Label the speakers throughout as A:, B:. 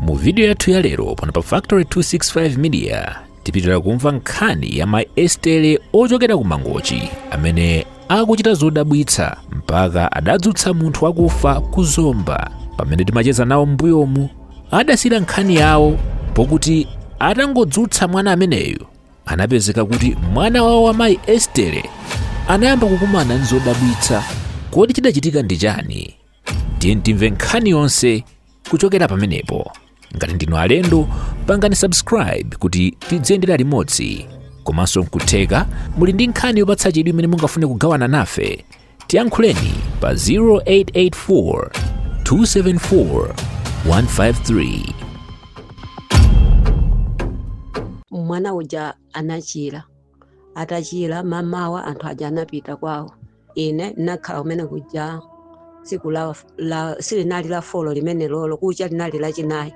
A: mu vidiyo yathu ya lero pano pa factory 265 media tipitira kumva nkhani ya mai estere ochokera ku mangochi amene akuchita zodabwitsa mpaka adadzutsa munthu wakufa ku zomba pamene timacheza nawo m'mbuyomu adasiyira nkhani yawo pokuti atangodzutsa mwana ameneyu anapezeka kuti mwana wawo wa mai estere anayamba kukumana ndi zodabwitsa kodi chidachitika ndi chani tiye timve nkhani yonse kuchokera pamenepo ngati ndinu alendo pangani subscribe kuti tidziyendera limodzi komanso nkutheka muli ndi nkhani yopatsa chidwi imene mungafune kugawana nafe tiyankhuleni pa 0884 274 153
B: mwana uja anachira atachira mamawa anthu aja anapita kwawo ine ndinakhala kumene kuja siku silinali la folo limene lolo kucha linali lachinayi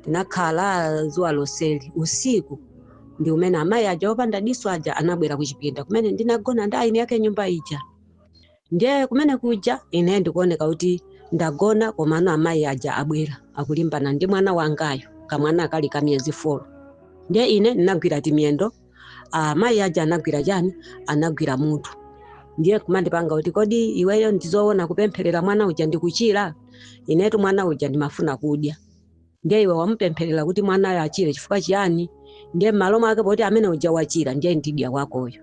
B: ndinakhala zuwa loseli usiku ndi umene amayi aja opanda diso aja anabwera kuchipinda kumene ndinagona ndi eni ake nyumba ija ndiye kumene kuja ine ndikuoneka kuti ndagona komano amayi aja abwera akulimbana ndi mwana wangayo kamwana kali ka miyezi folo ndiye ine ndinagwira timiyendo amayi aja anagwira chani anagwira mutu ndiye kumandipanga kuti kodi iweyo ndizoona kupempherera mwana uja ndikuchira inetu mwana uja ndimafuna kudya ndiye iwe wamupempherera kuti mwanayo achire chifukwa chiyani ndiye m'malo mwake poti amene uja wachira ndiye ndidya wakoyo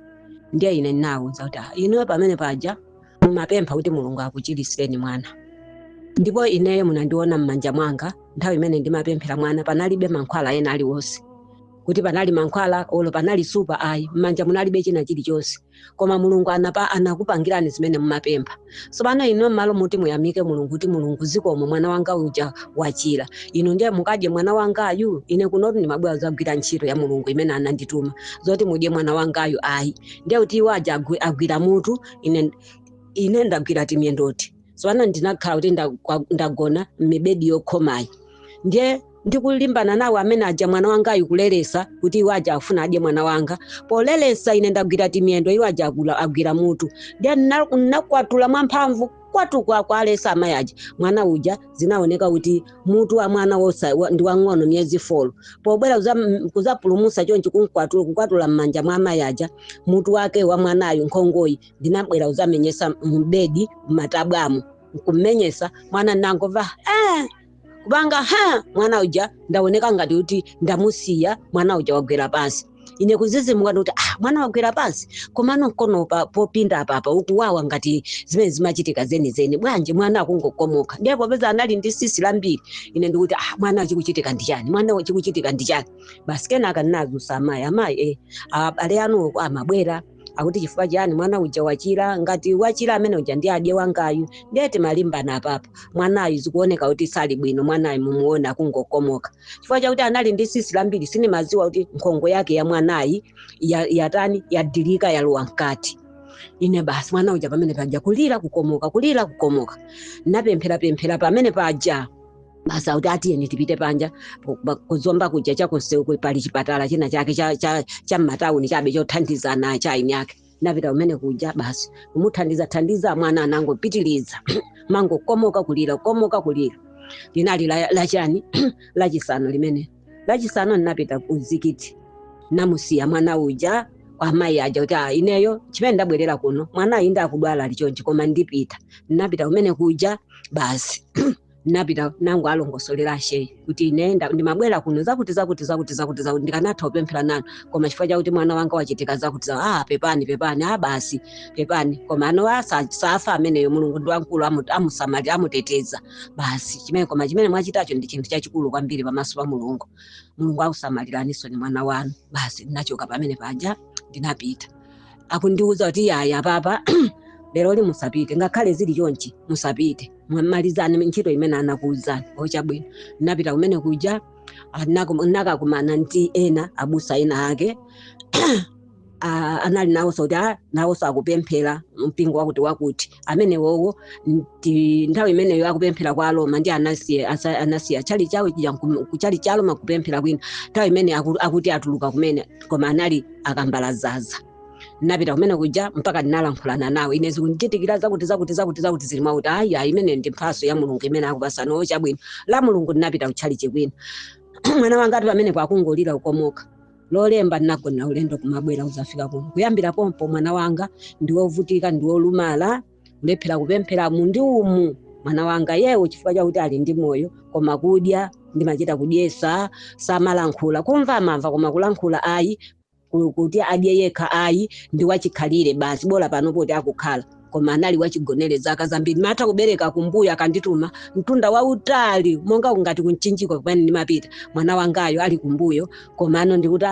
B: ndiye ine ndinawuza kuti "Ah, inuyo pamene paja mumapempha kuti mulungu akuchirisireni mwana ndipo ineyo munandiona m'manja mwanga nthawi imene ndimapempherera mwana panalibe mankhwala ena aliwonse kuti panali mankhwala olo panali supa ayi m'manja munalibe china chilichonse koma mulungu anakupangirani zimene mumapempha tsopano inu m'malo muti muyamike mulungu kuti mulungu zikomo mwana wanga uja wachira inu ndiye mukadye mwana wangayu ine kunotu ndimabwera kudzagwira ntchito ya mulungu imene anandituma zoti mudye mwana wangayu ayi ndiye kuti iwo aja agwira mutu ine ndagwira timyendoti tsopano ndinakhala kuti ndagona m'mibedi yokhomayi ndiye ndikulimbana nawo amene aja mwana wangayu kuleresa kuti iwo aja afuna adye mwana wanga poleresa ine ndagwira timiyendo iwo aja agwira mutu ndiye ndinakwatula mwamphamvu kwatu kuwalesa amayi aja mwana uja zinaoneka kuti mutu wa mwana wosa ndi wang'ono miyezi folo pobwera kuzapulumusa chonchi kukwatula m'manja mwa amayi aja mutu wake wa mwanayu nkhongoyi ndinabwera uzamenyesa mbedi m'matabwamo nkummenyesa mwana ndangomva "Ah!" kupanga ha mwana uja ndaoneka ngati kuti ndamusiya mwana uja wagwera pansi ine kuzizimuka ndikuti ah mwana wagwera pansi komano mkono pa popinda apapa ukuwawa ngati zimene zimachitika zenizeni bwanji mwana akungokomoka ndiye popeza anali ndi sisi lambiri ine ndikuti ah mwana chikuchitika ndi chani mwana chikuchitika ndi chani basi kenaka ndinazusa amayi amayi eh abale anu amabwera akuti chifukwa chiyani mwana uja wachira ngati wachira amene uja ndi adye wangayu ndiye timalimbana apapa mwanayu zikuoneka kuti sali bwino mwanayu mumuona akungokomoka chifukwa chakuti anali ndi sisi lambiri sindimadziwa kuti nkhongo yake ya mwanayi ya- yatani yadilika yalowa mkati ine basi mwana uja pamene paja kulira kukomoka kulira kukomoka napempherapemphera pamene paja basi akuti atiyeni tipite panja po- pa- kuzomba kuja chakumseu pali chipatala china chake cha- cha- cha m'matawuni chabe chothandizana cha aini ake napita kumene kuja basi kumuthandiza thandiza mwana anangopitiliza kumangokomoka kulira komoka kulira linali la- lachani lachisanu limene lachisanu ndinapita kumzikiti namusiya mwana uja kwa amayi aja kuti "Ah, ineyo chimene ndabwerera kuno mwanayi ndi wodwala ali chonchi koma ndipita ndinapita kumene kuja basi napita nango walongosolera ashehe kuti ine nda- ndimabwera kuno zakuti zakuti zakuti zakuti zakuti ndikanatha kupemphera nanu koma chifukwa chakuti mwana wanga wachitika zakuti za ah pepani pepani ah basi pepani komano asa- safa ameneyo mulungu ndi wamkulu amu- amusamali amuteteza basi chimene koma chimene mwachitacho ndi chinthu chachikulu kwambiri pamaso pa mulungu mulungu akusamaliraninso ni mwana wanu basi ndinachoka pamene paja ndinapita akundiuza kuti yaya papa lero li- musapite ngakhale zili chonchi musapite Mwa- malizani ntchito imene anakuwuzani ochabwino napita kumene kuja anakum- nakakumana ndi ena abusa ena ake Ah, anali nawonso kuti ah, nawonso akupemphera mpingo wakuti wakuti amenewowo ndi nthawi imeneyo akupemphera kwa aloma ndi anasiya asa- anasiya chali chawo chija nkum- kuchalichi cha aloma kupemphera kwina nthawi imene aku- akuti atuluka kumene koma anali akambala zaza napita kumene kuja mpaka ndinalankhulana nawo ine zikundichitikira zakuti zakuti zakuti zakuti zili mwakuti ayi ayi imene ndi mphaso ya mulungu imene akupasani ochabwino lamulungu ndinapita kutchalichi kwina mwana wanga ali pamenepo akungolira ukomoka lolemba ndinagona ulendo kumabwera uzafika kuno kuyambira pompo mwana wanga ndiwovutika ndiwolumala kulephera kupemphera umu ndi umu mwana wanga yewo chifukwa chakuti ali ndi moyo koma kudya ndimachita kudyesa samalankhula kumva amamva koma kulankhula ayi ku- kuti adye yekha ayi ndi wachikhalire basi bola pano poti akukhala koma anali wachigonere zaka zambiri matha kubereka kumbuyo akandituma mtunda wautali monga kungati kumchinjiko kumene ndimapita mwana wangayo ali kumbuyo komano ndikuti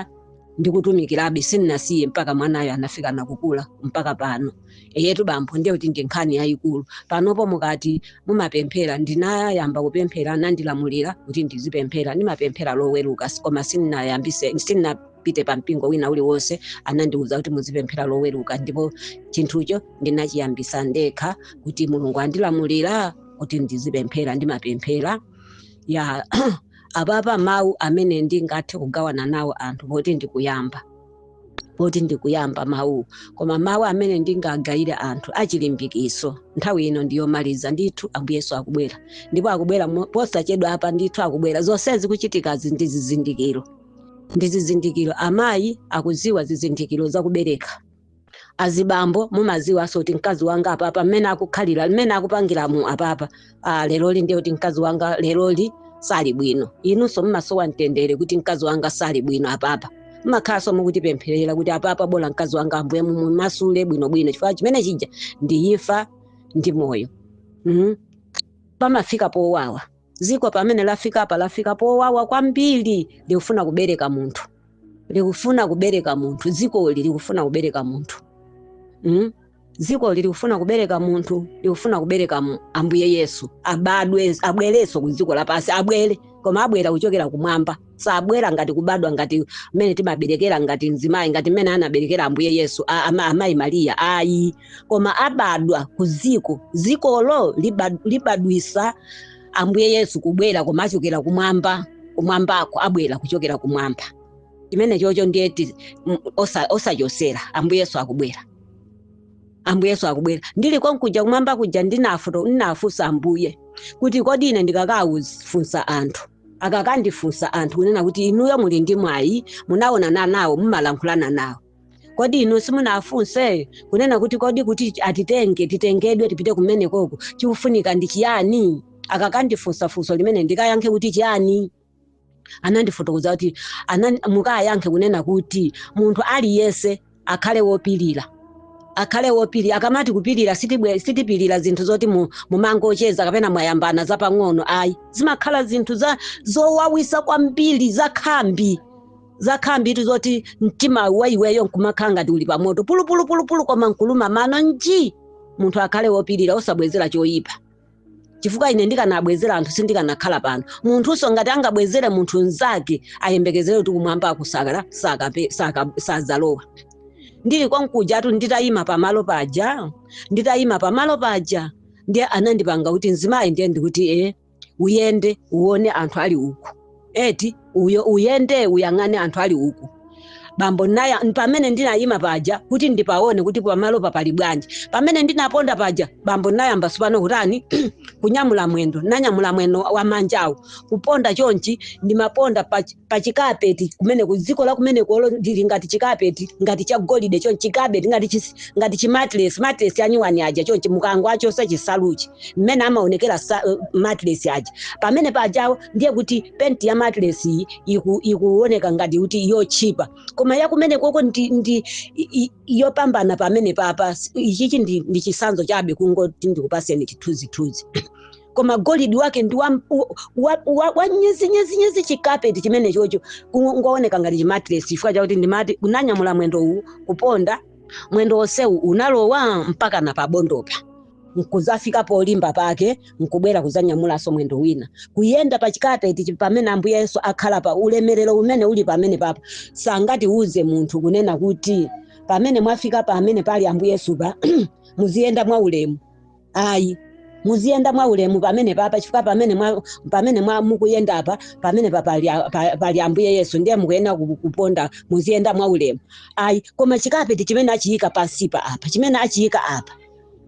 B: ndikutumikirabe sindinasiye mpaka mwanayo anafika nakukula mpaka pano eyetu bambo ndiye kuti ndi nkhani yayikulu panopo mukati mumapemphera ndinayamba kupemphera anandilamulira kuti ndizipemphera ndimapemphera loweruka s- koma sinapite pa mpingo wina uliwonse anandiwuza kuti muzipemphera loweruka ndipo chinthucho ndinachiyambisa ndekha kuti mulungu andilamulira kuti ndizipemphera ndimapemphera ya apapa mawu amene ndingathe kugawana nawo anthu poti ndikuyamba poti ndikuyamba mawu koma mawu amene ndingagayire anthu achilimbikiso nthawi ino ndiyomaliza ndithu ambuye yesu akubwera ndipo akubwera mo- posachedwa apa ndithu akubwera zonsezi kuchitikazi ndi zizindikiro ndi zizindikiro amayi akuziwa zizindikiro zakubereka azibambo mumaziwanso oti mkazi wanga apapa mmene akukhalira mmene akupangiramu apapa ah, leroli ndiye kuti mkazi wanga leroli sali bwino inunso mmasowa mtendere kuti mkazi wanga sali bwino apapa mmakhalanso mukutipempherera kuti apapa bola mkazi wanga ambuye mumasule bwinobwino chifukwa chimene chija ndi imfa ndi moyo mm? pamafika powawa ziko pamene lafika apa lafika powawa kwambiri likufuna kubereka munthu likufuna kubereka munthu zikoli likufuna kubereka munthu mm? dzikoli likufuna kubereka munthu likufuna kubereka mu- ambuye yesu abadwe abwereso ku ziko lapasi abwere koma abwera kuchokera kumwamba sabwera ngati kubadwa ngati mmene timaberekera ngati mzimayi ngati mmene anaberekera ambuye yesu a- ama- amayi mariya ayi koma abadwa ku ziko zikolo liba- libadwisa ambuye yesu kubwera koma achokera kumwamba kumwambako abwera kuchokera kumwamba chimene chocho ndiyeti m- osa- osachosera ambuye yesu akubwera ambuye yesu akubwera ndili konkuja kumwamba kuja ndinafu- ndinafunsa ambuye kuti kodi ine ndikakafunsa anthu akakandifunsa anthu kunena kuti inuyo muli ndi mwayi munaonana nawo mumalankhulana nawo kodi inu simunafunse kunena kuti kodi kuti atitenge titengedwe tipite kumenekoko chikufunika ndi chiyani akakandifunsa funso limene ndikayankhe kuti chiyani anandifotokoza kuti anani, mukayankhe kunena kuti munthu aliyense akhale wopirira akhale wopirira akamati kupirira sitibwe- sitipirira zinthu zoti mu- mumangocheza kapena mwayambana zapang'ono ayi zimakhala zinthu za zowawisa kwambiri zakhambi zakhambitu zoti mtima wa iweyo nkumakhala ngati uli pamoto pulupulupulupulu koma nkuluma mano nji munthu akhale wopirira osabwezera choyipa chifukwa ine ndikanabwezera anthu sindikanakhala pano munthunso ngati angabwezere munthu mnzake ayembekezere kuti kumwamba akusakala sakape- saka- sadzalowa ndili konkujatu nditayima pamalo paja nditayima pamalo paja ndiye anandipanga kuti mzimayi ndiye ndikuti e uyende uone anthu ali uku eti uyo uyende uyang'ane anthu ali uku bambo naya pamene ndinayima paja kuti ndipaone kuti pamalopa pali bwanji pamene ndinaponda paja bambo nayamba sopano kutani kunyamula mwendo nanyamula mwendo wa manjawo kuponda chonchi ndimaponda pa, pa chikapeti kumene ku dziko la kumene kolo ndili ngati chikapeti ngati cha golide chonchi chikapeti ngati chis- ngati chimatilesi matilesi anyuwani aja chonchi mukangowachosa chisaluchi mmene amaonekera sa- eh, matilesi aja pamene pajawo ndiye kuti penti ya matilesi iyi iku- ikuoneka ngati kuti yotchipa koma yakumene koko ndi, ndi i- i- yopambana pamene papa ichichi ndi, ndi chisanzo chabe kungoti ndikupaseni chithunzithunzi koma golidi wake ndi wa, wa, wa, wa nyezinyezinyezi chikapeti chimene chocho kungooneka ngati chimatiresi chifukwa chakuti ndimati kunyamula mwendo uwu kuponda mwendo onsewu unalowa mpaka na pabondopa nkuzafika polimba pake nkubwera kuzanyamulanso mwendo wina kuyenda pa chikapeti chi- pamene ambuye yesu akhala pa ulemerero umene uli pamene papa sangatiuze munthu kunena kuti pamene mwafika pamene pali ambuye yesu pa muziyenda mwa ulemu ayi muziyenda mwa ulemu pamene papa chifukwa pamene mwa, pamene mwa mukuyenda apa pamene pa pali, a- pa- pali ambuye yesu ndiye mukuyenera ku- kuponda muziyenda mwa ulemu ayi koma chikapeti chimene achiyika pansipa apa chimene achiyika apa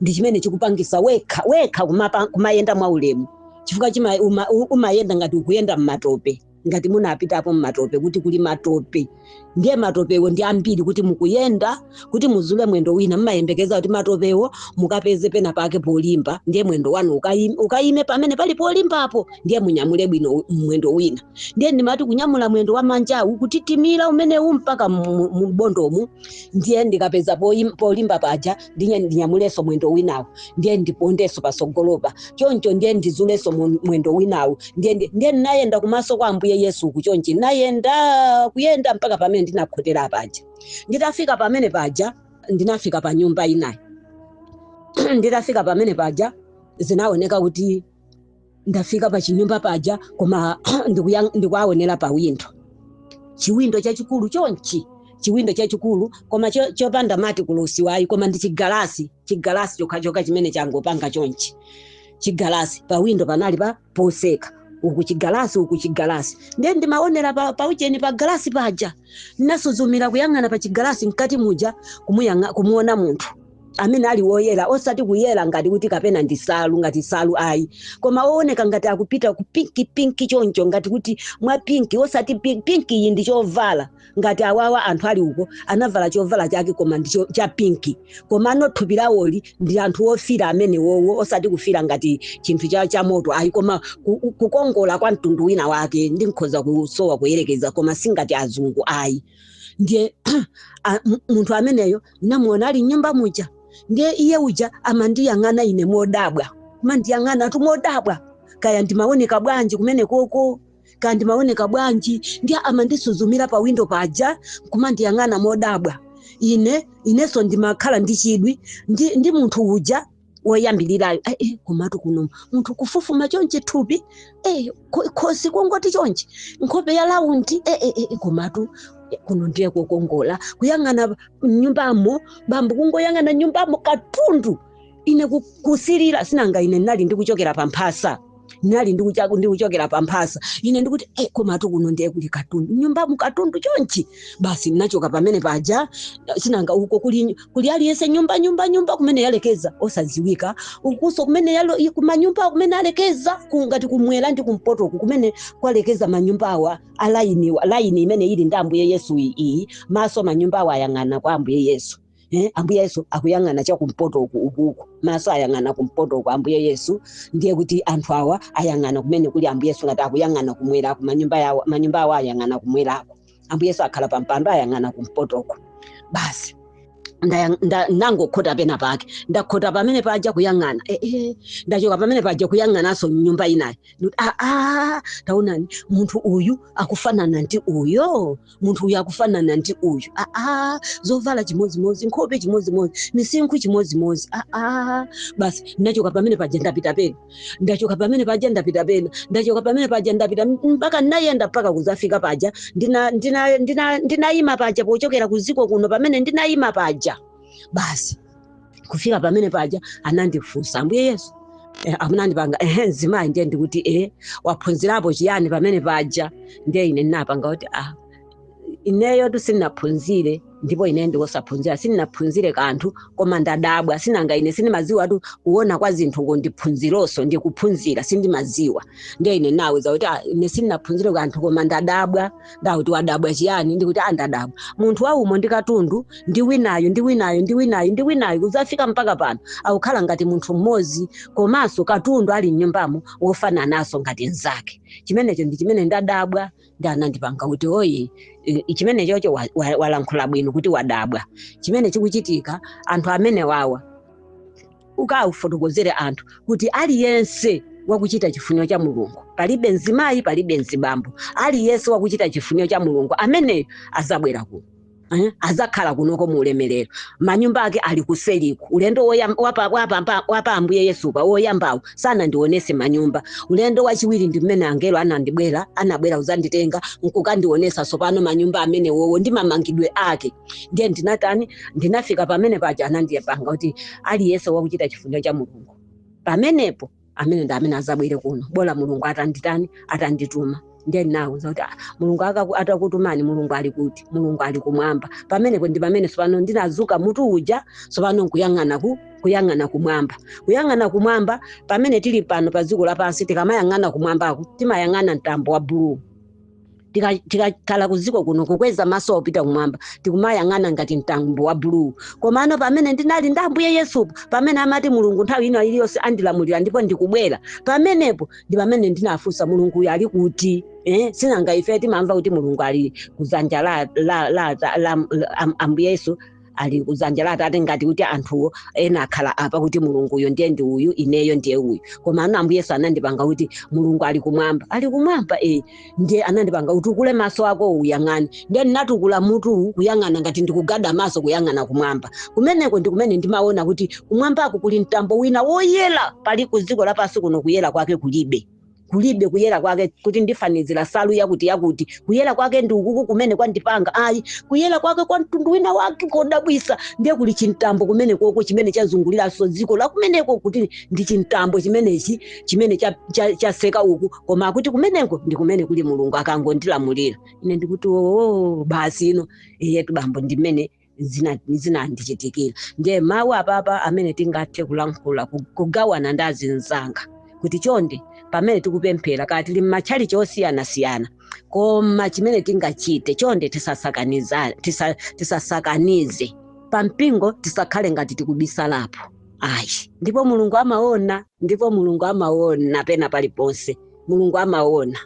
B: ndi chimene chikupangisa wekha wekha kumapa, kumayenda mwa ulemu chifukwa chima, uma, u- umayenda ngati ukuyenda mmatope ngati munapitapo mmatope kuti kuli matope ndiye matopewo ndi ambiri kuti mukuyenda kuti muzule mwendo wina mmayembekeza kuti matopewo mukapeze pena pake polimba ndiye mwendo wanu ukayime, ukayime pamene pali polimbapo ndiye munyamule bwino mwendo wina ndiye ndimati kunyamula mwendo wa manjawu kutitimira umenewu mpaka mu- mu- m'bondomu ndiye ndikapeza poyim- polimba paja ndiye ndinyamulenso mwendo winawo ndiye ndipondenso patsogolopa choncho ndiye ndizulenso mu- mwendo winawo ndiye ndi- ndiye ndinayenda kumaso kwa ambuye yesu uku chonchi nayenda kuyenda mpaka pamene ndinakhotera paja nditafika pamene paja ndinafika pa nyumba inayi nditafika pamene paja zinaoneka kuti ndafika pa chinyumba paja koma ndikuya- ndikuwaonera pa windo chiwindo chachikulu chonchi chiwindo chachikulu koma cho- chopanda mati kulusiwayi koma ndi chigalasi chigalasi chokhachokha chimene changopanga chonchi chigalasi pa windo panali pa poseka uku chigalasi uku chigalasi ndiye ndimaonera pa, pa ujeni pa galasi paja nasuzumira kuyang'ana pa chigalasi mkati muja kumuyang'a- kumuona munthu amene ali woyera osati kuyera ngati kuti kapena ndi salu ngati salu ayi koma wooneka ngati akupita ku pinki pinki choncho ngati kuti mwa pinki osati pinki, pinki iyi ndi chovala ngati awawa anthu ali uko anavala chovala chake koma ndi cho- cha pinki komano thupi lawoli ndi anthu ofira amene wowo osati kufira ngati chinthu cha, cha moto ayi koma ku- ku- kukongola kwa mtundu wina wake ndikhoza kusowa kuyerekeza koma singati azungu ayi ndiye a- m- munthu ameneyo namuona ali mnyumba muja ndiye iye uja amandiyang'ana ine modabwa kumandiyang'anatu modabwa kaya ndimaoneka bwanji kumene koko kaya ndimaoneka bwanji ndiye amandisuzumira pa windo paja kumandiyang'ana modabwa ine inenso ndimakhala ndi chidwi ndi, ndi munthu uja woyambirirayo "Eh, eh, komatu kuno munthu kufufuma chonchi thupi eh, ko- khosi kongoti chonchi nkhope ya laundi eh, eh, eh, komatu eh, kuno ndiye kukongola kuyang'ana mnyumbamo bambo kungoyang'ana mnyumbamo katundu ine ku- kusirira sinanga ine ndinali ndikuchokera pa mphasa ndinali ndikucha- ndikuchokera pa mphasa ine ndikuti e komatu kuno ndiye kuli katundu mnyumbamu katundu chonchi basi ndinachoka pamene paja sinanga uko kuli, kuli aliyense nyumba nyumba nyumba kumene yalekeza osadziwika ukuso kumene yalo, i- kumanyumba kumene alekeza ku- ngati kumwera ndi kumpoto uku kumene kwalekeza manyumba awa alaini laini imene ili ndi ambuye yesu iyi- iyi maso manyumba awa ayang'ana kwa ambuye yesu Eh, ambuye yesu akuyang'ana chakumpoto uku ukuku maso ayang'ana kumpoto uku ambuye yesu ndiye kuti anthu awa ayang'ana kumene kuli ambuye yesu ngati akuyang'ana kumwerako manyumba yawo manyumba awo ayang'ana kumwerako ambuye yesu akhala pa mpando ayang'ana kumpoto uku basi ndaya- nda- ndangokhota pena pake ndakhota pamene paja kuyang'ana eh, eh, ndachoka pamene paja kuyang'ananso mnyumba inayi Ndikuti, "Ah, ah, taonani munthu uyu akufanana ndi uyo munthu uyu akufanana ndi uyu aa zovala chimodzimodzi nkhope chimodzimodzi misinkhu chimodzimodzi aa basi ndachoka pamene paja ndapita pena ndachoka pamene paja ndapita pena ndachoka pamene paja ndapita mpaka ndinayenda mpaka kuzafika paja ndinayima ndina, ndina, ndina ndinayima paja pochokera kuziko kuno pamene ndinayima paja basi kufika pamene paja anandifunsa ambuye yesu eh, amu- anandipanga ehe mzimayi ndiye ndikuti eh, waphunzirapo chiyani pamene paja ndiye ine ndinapanga kuti ah, ineyotu sindinaphunzire ndipo ine ndi osaphunzira sindinaphunzire kanthu koma ndadabwa sinanga ine sindimaziwatu kuona kwa zinthu ndi phunzironso ndikuphunzira sindimaziwa ndiye ine ndinawuza kuti ah, ine sindinaphunzire kanthu koma ndadabwa ndauti wadabwa chiyani ndikuti a ndadabwa munthu waumo ndi katundu ndi winayo ndi winayo ndi winayo ndi winayo kudzafika mpaka pano akukhala ngati munthu mmodzi komanso katundu ali mnyumbamo wofanananso ngati mnzake chimenecho ndi chimene ndadabwa ndi anandipanga kuti oyi i- i- chimenechocho wa- wa- walankhula bwino kuti wadabwa chimene chikuchitika anthu amene wawa ukafotokozere anthu kuti aliyense wakuchita chifuniro cha mulungu palibe mzimayi palibe mzibambo aliyense wakuchita chifuniro cha mulungu ameneyo azabwera kuno Eh, azakhala kunoko mu ulemerero manyumba ake ali kuseliku ulendo woyam- wapa- wapamba- wapa ambuye yesu pa woyambawo sanandionese manyumba ulendo wachiwiri ndi mmene angelo anadibwera anabwera kuzanditenga nkukandionesa tsopano manyumba amenewowo ndi mamangidwe ake ndiye ndinatani ndinafika pamene paja anandipanga kuti aliyense wakuchita chifuniro cha mulungu pamenepo amene ndi amene azabwere kuno bola mulungu atanditani atandituma ndiye ndinawuza kuti "Ah, mulungu akaku- atakutumani mulungu ali kuti mulungu ali kumwamba pamenepo ndi pamene tsopano ndinazutsa mutu uja tsopano nkuyang'ana ku kuyang'ana kumwamba kuyang'ana kumwamba pamene tili pano pa dziko lapansi tikamayang'ana kumwambako timayang'ana mtambo wa buluu Tika- tikakhala kuziko kuno kukweza maso opita kumwamba tikumayang'ana ngati mtambo wa buluu komano pamene ndinali ndi ambuye yesupo pamene amati mulungu nthawi ina iliyonse andilamulira ndipo ndikubwera pamenepo ndi pamene ndinafunsa mulunguyo ali kuti eh? sinanga ife timamva kuti mulungu ali kuzanja la, la, la, la, la, la am- ambuye yesu ali kudzanja la atate ngati kuti anthuwo ena akhala apa kuti mulunguyo ndiye ndi uyu ineyo ndiye uyu komano ambuye yesu anandipanga kuti mulungu ali kumwamba ali kumwamba e ndiye anandipanga utukule maso ako uyang'ane ndiye ndinatukula mutu kuyang'ana ngati ndikugada maso kuyang'ana kumwamba kumeneko ndi kumene ndimaona kuti kumwambako kuli mtambo wina woyera pali ku dziko lapansi kuno kuyera kwake kulibe kulibe kuyera kwake kuti ndifanizira salu yakuti yakuti kuyera kwake ndi ukuku kumene kwandipanga ayi kuyera kwake kwa mtundu wina wake kodabwisa ndiye kuli chimtambo kumene koko chimene chazunguliranso dziko lakumeneko kuti ndi chimtambo chimenechi chimene cha- cha- chaseka uku koma akuti kumeneko ndi kumene kuli mulungu akangondilamulira ine ndikuti oo basi ino eyetu bambo ndimene zina- zinandichitikira ndiye mawu apapa amene tingathe kulankhula ku- kugawana ndi azinzanga kuti chonde pamene tikupemphera kaya tili m'matchalichi osiyanasiyana koma chimene tingachite chonde tisasakaniza- tisa- tisasakanize pa mpingo tisakhale ngati tikubisalapo ayi ndipo mulungu amaona ndipo mulungu amaona pena paliponse mulungu amaona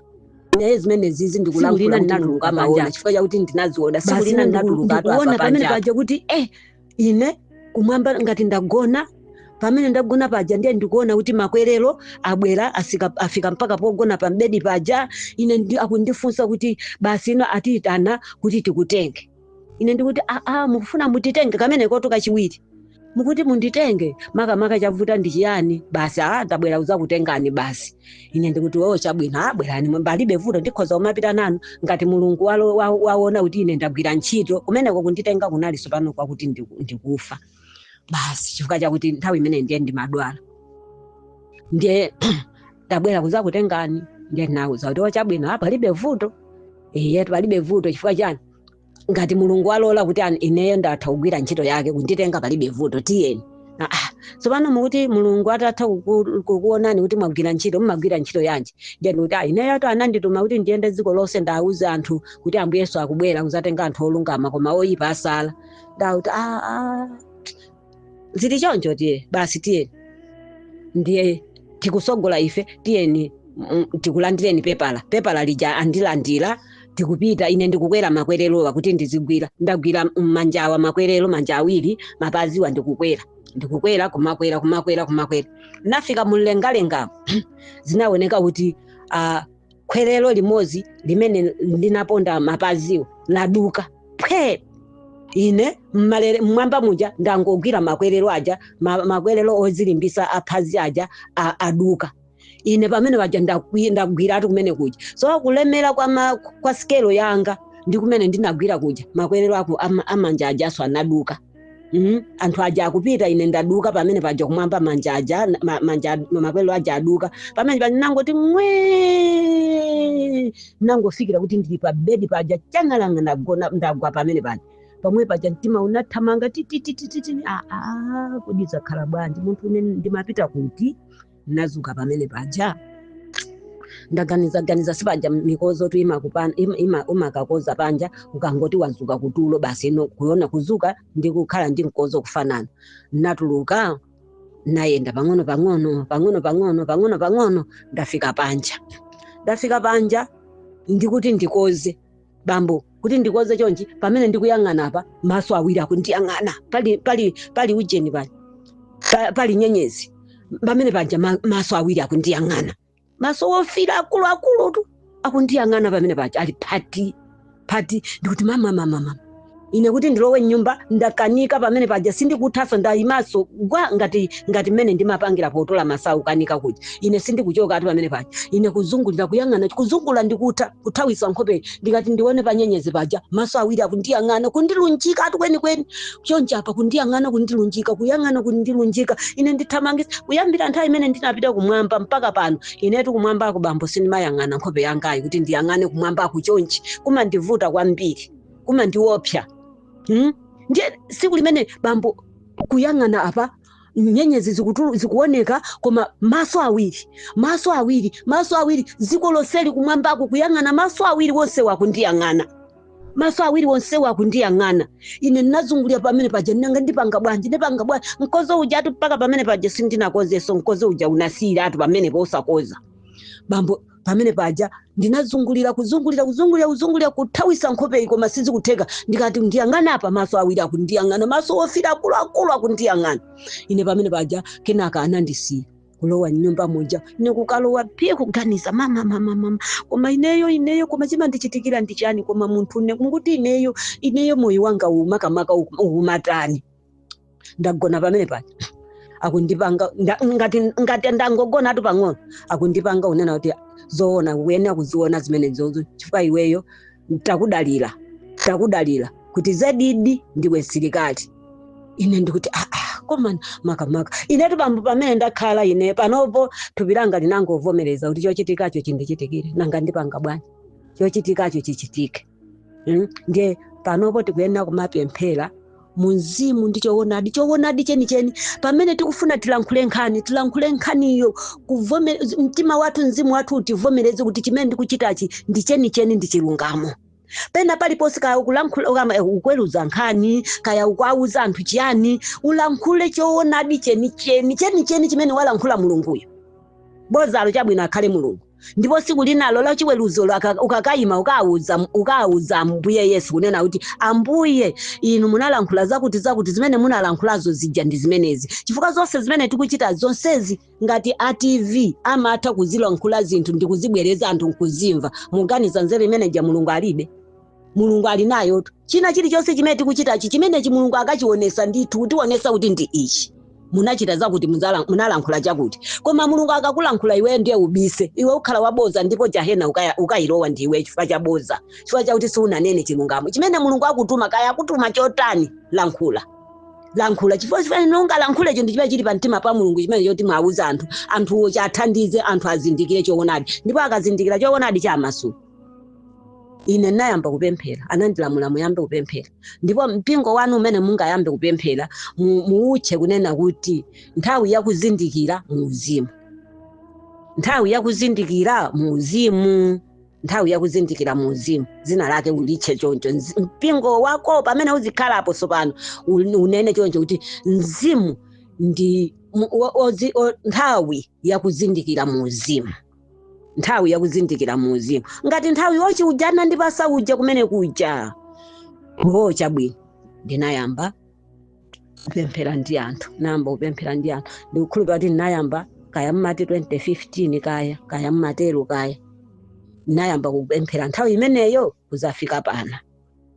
B: naye zimenezizi Tsiku lina ndikulankhula kuti ndinatuluka Mulungu panja. amaona chifukwa chakuti ndinaziona tsiku basi lina ine ndiku- ndinatuluka apa ndikuona apa pamene panja paja kuti eh ine kumwamba ngati ndagona pamene ndagona paja ndiye ndikuona kuti makwerero abwera asika, afika mpaka pogona pambedi paja ine ndi, akundifunsa kuti basi ino atiyitana kuti tikutenge ine ndikuti aa mukufuna munditenge kumenekotu kachiwiri mukuti munditenge makamaka chavuta ndi chiyani basi aa tabwera kuzakutengani basi ine ndikuti oo chabwino abwerani palibe vuto ndikhoza kumapita nanu ngati mulungu walo- wa- waona kuti ine ndagwira ntchito kumeneko kunditenga kunalinso pano kwakuti ndiku- ndikufa basi chifukwa chakuti nthawi imene ndiye ndimadwala ndiye ndabwera kuzakutengani ndiye ndinauza kuti aa chabwino apa palibe vuto iye palibe vuto chifukwa chani ngati mulungu walola kuti an- ineyo ndatha kugwira ntchito yake kunditenga palibe vuto tiyeni Ah, ah. tsopano mukuti mulungu atatha kuku- kukuonani kuti mwagwira ntchito mumagwira ntchito yanji ndiye ndikuti "Ah, ineyotu anandituma kuti ndiyende dziko lonse ndiwauze anthu kuti ambuye yesu akubwera kuzatenga anthu olungama koma oyipa asala ndawauti "Ah, ah, zili choncho tiye basi tiyeni ndiye tikusogola ife tiyeni mm, tikulandireni pepala pepala lija andilandira tikupita ine ndikukwera makwererowa kuti ndizigwira ndagwira manjawa makwerero manja awiri mapaziwa ndikukwera ndikukwera kumakwera kumakwera kumakwera nafika mumlengalenga zinaoneka kuti ah, khwerero limodzi limene ndinaponda mapaziwo laduka phwe ine mmalere- mmwamba muja ndangogwira makwerero aja ma- makwerero ozilimbisa aphazi aja a- aduka ine pamene paja ndakwi- ndagwiratu kumene kuja so kulemera kwa, ma, kwa sikelo yanga ndi kumene ndinagwira kuja makwerero ako ama- amanja ajaso anaduka Mhm. anthu aja akupita ine ndaduka pamene paja kumwamba manja aja na- ma- manja ad- makwelero aja aduka pamene paja nangoti mwe nangofikira kuti ndili pa bedi paja changalanga ndagona ndagwa pamene paja pamwe paja mtima unathamanga tititititi aa kodi zakhala bwanji munthune ndimapita kuti ndinazuka pamene paja ndaganiza ganiza sipaja mikozotu imakupana ima, ima, umakakoza panja ukangoti wazuka kutulo basi ino kuona kuzuka ndi kukhala ndi mkozo kufanana natuluka nayenda pang'ono pang'ono pang'ono pang'ono pang'ono pang'ono ndafika panja ndafika panja ndikuti ndikoze bambo kuti ndikoze chonchi pamene ndikuyang'ana apa maso awiri akundiyang'ana pali pali pali ujeni pali pa- pali nyenyezi pamene paja ma- maso awiri akundiyang'ana maso wofira akuluakulutu akundiyang'ana pamene paja ali phati phati ndikuti mama mama mama ine kuti ndilowe mnyumba ndakanika pamene paja sindikuthanso ndayimanso gwaa ngati ngati mmene ndimapangira potola masawu kanika kuja ine sindikuchoka ati pamene paja ine kuzungulira kuyang'ana kuzungula ndikutha kuthawisa nkhope ndikati ndione panyenyezi paja maso awiri akundiyang'ana kundilunjika ati kwenikweni choncho apa kundiyang'ana kundilunjika kuyang'ana kundilunjika ine ndithamangisa kuyambira nthawi imene ndinapita kumwamba mpaka pano inetu kumwambako bambo sindimayang'ana nkhope yangayi kuti ndiyang'ane kumwambako chonchi kumandivuta kwambiri kumandiopsa hmm? ndiye tsiku limenelo bambo kuyang'ana apa nyenyezi zikutulu- zikuoneka koma maso awiri maso awiri maso awiri dziko lonseli kumwambako kuyang'ana maso awiri wonse wakundiyang'ana maso awiri wonse wakundiyang'ana ine ndinazungulira pamene paja nanga ndipanga bwanji ndipanga bwanji mkozo ujatu mpaka pamene paja sindinakozeso mkozo uja unasiyiratu pamene posakoza bambo pamene paja ndinazungulira kuzungulira kuzungulira kuzungulira kuthawisa nkhope iyi koma sizikutheka ndikati ndiyang'ana apa maso awiri akundiyang'ana maso ofira akuluakulu akundiyang'ana ine pamene paja kenaka anandisiya kulowa mnyumba muja ine kukalowa pye kuganiza mama mama mama koma ineyo ineyo koma chimandichitikira ndi chani koma munthune mukuti ineyo ineyo moyo wanga umakamaka umatani ndagona pamene paja akundipanga nda- ngati ngati ndangogonatu pang'ono akundipanga kunena kuti zoona ukuyenera kuziona zimenezozo chifukwa iweyo takudalira takudalira kuti zedidi ndiwe msilikali ine ndikuti "Ah, ah, koma makamaka inetu bambo pamene ndakhala ine panopo thupi langa linangovomereza kuti chochitikacho chindichitikire nanga ndipanga bwanji chochitikacho chichitike Mm, ndiye panopo tikuyenera kumapemphera mu mzimu ndi choonadi choonadi chenicheni pamene tikufuna tilankhule nkhani tilankhule nkhaniyo kuvome- mtima wathu mzimu wathu utivomereze kuti chimene ndikuchitachi ndi chenicheni ndi chilungamo pena paliponse kaya ukulankhula ukama- eh, ukuweruza nkhani kaya ukuwauza anthu chiyani ulankhule choonadi chenicheni chenicheni chimene walankhula mulunguyo bozalo chabwino akhale mulungu ndipo tsiku linalo la chiweruzo laka- ukakayima ukawuza ukawuza ambuye yesu kunena kuti ambuye inu munalankhula zakuti zakuti zimene munalankhulazo zija ndi zimenezi chifukwa zonse zimene tikuchita zonsezi ngati a tv amatha kuzilankhula zinthu ndi kuzibwereza anthu nkuzimva muganiza nzeru imeneja mulungu alibe mulungu ali nayotu china chilichonse chimene tikuchitachi chimenechi mulungu akachionesa ndithu kutionesa kuti ndi ichi munachita zakuti muzala- munalankhula chakuti koma mulungu akakulankhula iweyo ndiye ubise iwe ukhala waboza ndipo jahena ukaya- ukayilowa ndi iwe chifukwa cha boza chifukwa chakuti siunanene chilungamo chimene mulungu akutuma kaya akutuma chotani lankhula lankhula chifukwa chimene ungalankhule chinthu chimene chili pamtima pa mulungu chimene choti mwauza anthu anthuwo chathandize anthu azindikire choonadi ndipo akazindikira choonadi amasuka ine ndinayamba kupemphera anandilamula muyambe kupemphera ndipo mpingo wanu umene mungayambe kupemphera mu- muutche kunena kuti nthawi yakuzindikira mu uzimu nthawi yakuzindikira mu uzimu nthawi yakuzindikira mu uzimu dzina lake ulitche choncho Nzi- mpingo wako pamene uzikhalapo tsopano un- unene choncho kuti mzimu ndi mu- o- ozi- o- nthawi yakuzindikira mu uzimu nthawi yakuzindikira mu uzimu ngati nthawi yochi uja anandipasa uja kumene kuja o chabwino ndinayamba kupemphera ndi anthu nayamba kupemphera ndi anthu ndikukhulupira kuti ndinayamba kaya mmati 2015 kaya kaya mmatero kaya ndinayamba kupemphera nthawi imeneyo kuzafika pano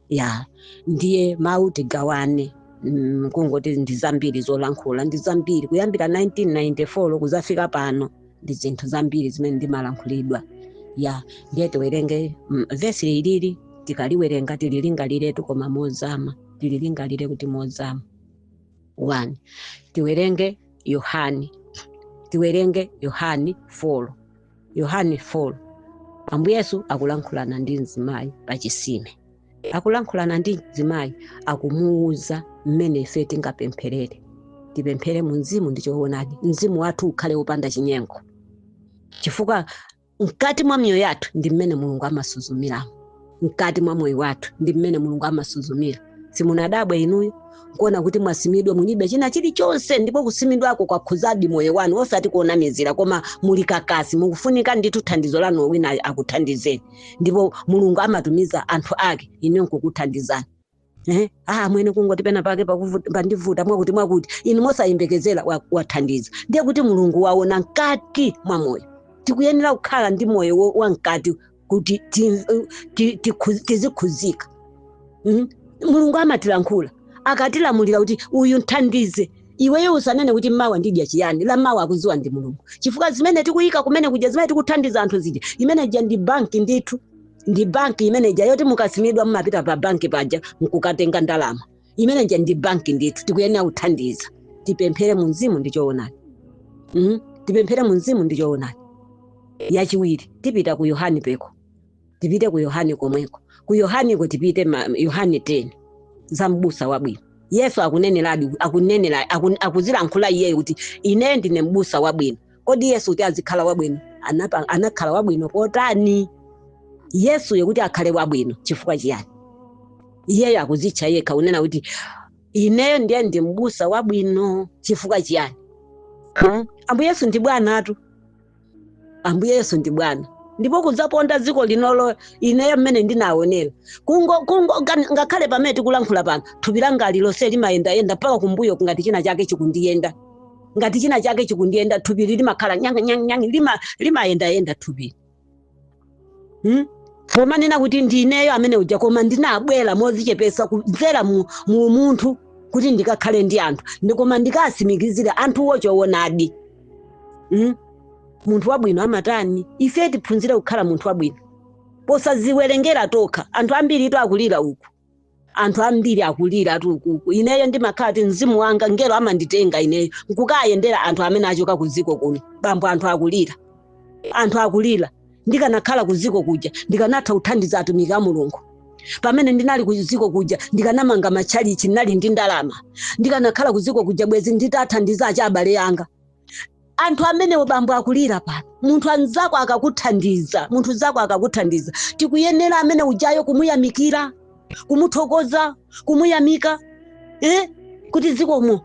B: ya ndiye mawu tigawane mm, kungoti ndi zambiri zolankhula ndi zambiri kuyambira 1994 kuzafika pano ndi zinthu zambiri zimene ndimalankhulidwa ya ndiye tiwerenge mm, vesi ilili tikaliwerenga tililingaliretu koma mozama tililingalire kuti mozama 1 tiwerenge yohani tiwerenge yohani 4 yohane 4 ambuye yesu akulankhulana ndi mzimayi pa chisime akulankhulana ndi mzimayi akumuwuza mmene ife tingapempherere tipemphere mu mzimu ndi choonadi mzimu wathu ukhale wopanda chinyengo chifukwa mkati mwa miyoyo yathu ndi mmene mulungu amasuzumiramo mkati mwa moyo wathu ndi mmene mulungu amasuzumira simunadabwe inuyo kuona kuti mwasimidwa mulibe china chilichonse ndipo kusimidwako kwakhuzadi moyo wanu osati kuonamizira koma muli kakasi mukufunika ndithu thandizo lanu wina akuthandizeni ndipo mulungu amatumiza anthu ake inuyo nkukuthandizani Eh, ah amwene kungoti pena pake pakuvu- pandivuta mwakuti mwakuti inu mosayembekezera wa- wathandiza ndiye kuti mulungu waona mkati mwa moyo tikuyenera kukhala ndi moyo wo- wa mkati kuti ti- ti- tikhu- tizikhuzika Mhm. mulungu amatilankhula akatilamulira kuti uyu mthandize iweyo usanene kuti mawa ndidya chiyani la mawa akuziwa ndi mulungu chifukwa zimene tikuyika kumene kuja zimene tikuthandiza anthu zija imene ija ndi banki ndithu ndi banki imene ija yoti mukasimidwa mumapita pa banki paja mkukatenga ndalama imene ija ndi banki ndithu tikuyenera kuthandiza tipemphere mu mzimu ndi choonadi mm? tipemphere mu mzimu ndi choonadi yachiwiri tipita ku yohani peko tipite ku yohani komweko ku yohaniko tipite ma- yohani 10 za mbusa wabwino yesu akuneneradi akunenera akun- akuzilankhula iyeyo kuti ine ndine mbusa wabwino kodi yesu kuti azikhala wabwino anapa- anakhala wabwino potani yesuyo kuti akhale wabwino chifukwa chiyani iyeyo akuzitcha yekha kunena kuti ineyo ndiye ndi mbusa wabwino chifukwa chiyani Hmm? ambuye yesu ndi bwanatu ambuye yesu ndi bwana ndipo kudzaponda dziko linolo ineyo mmene ndinaonera kungo kungo ngani- ngakhale pamene tikulankhula pano thupi langa lilonse limayendayenda mpaka kumbuyoku ngati china chake chikundiyenda ngati china chake chikundiyenda thupili limakhala nyang nyang nyang lima limayendayenda thupili hmm? pomanena kuti ndineyo amene uja koma ndinabwera mozichepesa kudzera mu, mu munthu kuti ndikakhale ndi anthu ndi koma ndikasimikizire anthuwo choonadi hmm? munthu wabwino amatani ife tiphunzire kukhala munthu wabwino posaziwerengera tokha anthu ambiri itu akulira uku anthu ambiri akuliratu ukuku ineyo ndimakhala kuti mzimu wanga ngelo amanditenga ineyo nkukayendera anthu amene achoka ku dziko kuno bambo anthu akulira anthu akulira ndikanakhala ku dziko kuja ndikanatha kuthandiza atumiki a mulungu pamene ndinali ku dziko kuja ndikanamanga matchalichi ndinali ndi ndalama ndikanakhala ku dziko kuja bwezi nditathandiza acha abale anga anthu amenewo bambo akulira pano munthu anzako akakuthandiza munthu zako akakuthandiza tikuyenera amene ujayo kumuyamikira kumuthokoza kumuyamika eh? kuti zikomo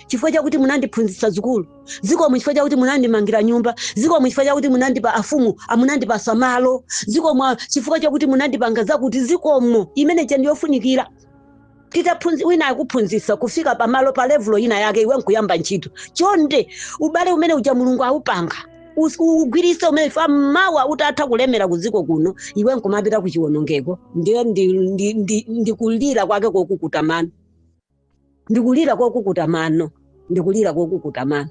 B: chifukwa chakuti munandiphunzitsa sukulu zikomo chifukwa chakuti munandimangira nyumba zikomo chifukwa chakuti munandipa afumu amunandipasa malo zikomo chifukwa chakuti munandipanga zakuti zikomo imene ija ndiyofunikira titaphunzi wina akuphunzitsa kufika pamalo pa levulo ina yake iwe nkuyamba ntchito chonde ubale umene uja mulungu awupanga Us- ugwiritse umene uja mawa utatha kulemera ku dziko kuno iwe nkumapita ku chiwonongeko ndiye ndi- ndi- ndi- ndikulira kwake kokukuta mano ndikulira kokukuta mano ndikulira kokukuta mano